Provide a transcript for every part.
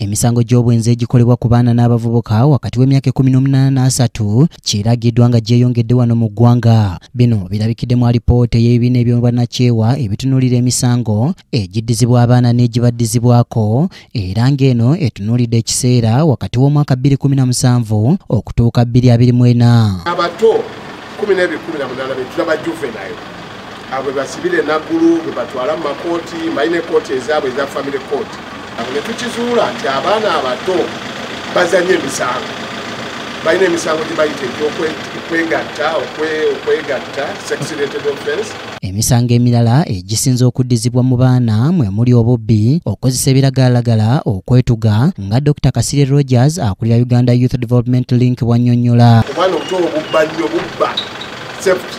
emisango gy'obwenzi egikolebwa ku baana n'abavubuka wakati w'emyaka ekumi n'omunaana n'asatu kiragiddwa nga gyeyongedde wano mu ggwanga bino birabikidde mu alipoota ey'ebibiina ebyobannakyewa ebitunuulira emisango egiddizibwa abaana n'egibaddizibwako era ng'eno etunuulidde ekiseera wakati w'omwaka 217 okutuuka 224 abato 1 be tulaba juvenile abwe basibire naggulu bwe batwala mu makooti mbalina ekooti ezaabwe eza family court abo ne tukizuula nti abaana abato bazanye emisango balina emisango gye bayita egyokwegatta okwegatta sexrated offense emisango emirala egisinza okuddizibwa mu baana mwe muli obubbi okozesa ebiragalalagala okwetuga nga dr kasire rogers akulira uganda youth development link bwanyonyola obwana obuto obubba nnyo bubba safety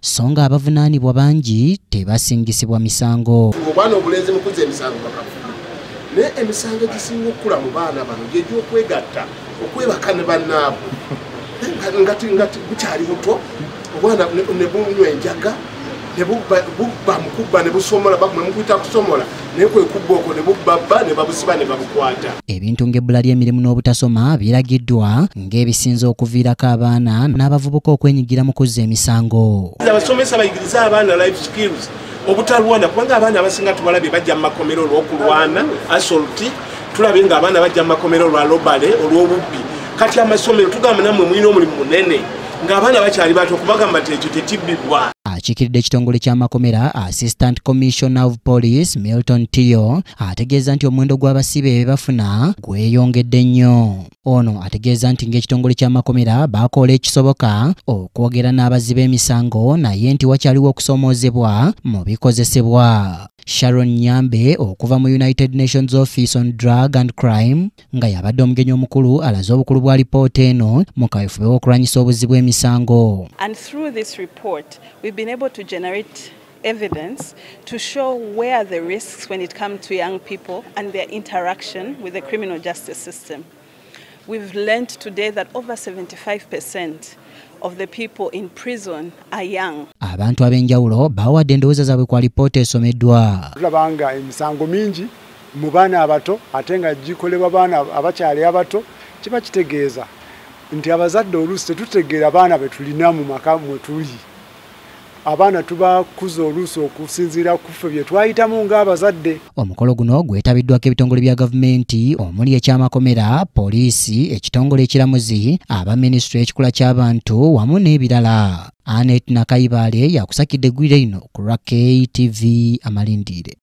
so nga abavunaanibwa bangi tebasingisibwa misango obwana obulenzi mukuza emisango bakafu naye emisango egisinga okukula mu baana bano gyegyokwegatta okwebaka ne bannaabwe nga bukyali buto obwana nebunywa enjaga nebubba mukubba nebusomola bakumukuyita kusomola naye kwe kubba okwo ne bubba bba ne babusiba ne babukwata ebintu ng'ebbula ly'emirimu n'obutasoma biragiddwa ng'ebisinza okuviirako abaana n'abavubuka okwenyigira mu kuzza emisango abasomesa bayigiriza abaana life skills obutalwana kubanga abaana abasinga tubalabye bajja mu makomera olw'okulwana asolti tulabye nga abaana bajja mu makomera olwa lobale olw'obubbi kati amasomero tugamba namwe mulina omulimu munene ng'abaana bakyali bato okubagamba nti ekyo tekibbibwa akikiridde ekitongole ky'amakomera assistant commissioner of police milton tiyo ategeeza nti omuwendo gw'abasibe bebafuna gweyongedde nnyo ono ategeeza nti ng'ekitongole ky'amakomera bakoola ekisoboka okwogera n'abazzi b'emisango naye nti wakyaliwo okusoomoozebwa mu bikozesebwa Sharon Nyambe okuva mu United Nations Office on Drug and Crime nga yabadde omugenyi omukulu alaze obukulu bwa lipoota eno mu kawefube w'okulwanyisa obuzzi bw'emisango. And through this report, we've been able to generate evidence to show where the risks when it comes to young people and their interaction with the criminal justice system. We've learned today that over 75% of the people in prison are young. Abantu ab'enjawulo bawadde endowooza zaabwe ku alipoota esomeddwa. Tulaba nga emisango mingi mu baana abato ate nga gikolebwa baana abakyali abato kiba kitegeeza nti abazadde oluusi tetutegeera baana be tulina mu maka mwe tuli. abaana tubakuza oluusi okusinziira ku ffe bye twayitamu ng'abazadde omukolo guno gwetabiddwako ebitongole bya gavumenti omuli ekyamakomera poliisi ekitongole ekiramuzi aba minisitule ekikula ky'abantu wamu n'ebirala anet nakayibaale yakusakidde eggwire lino ku lwa ktv amalindiire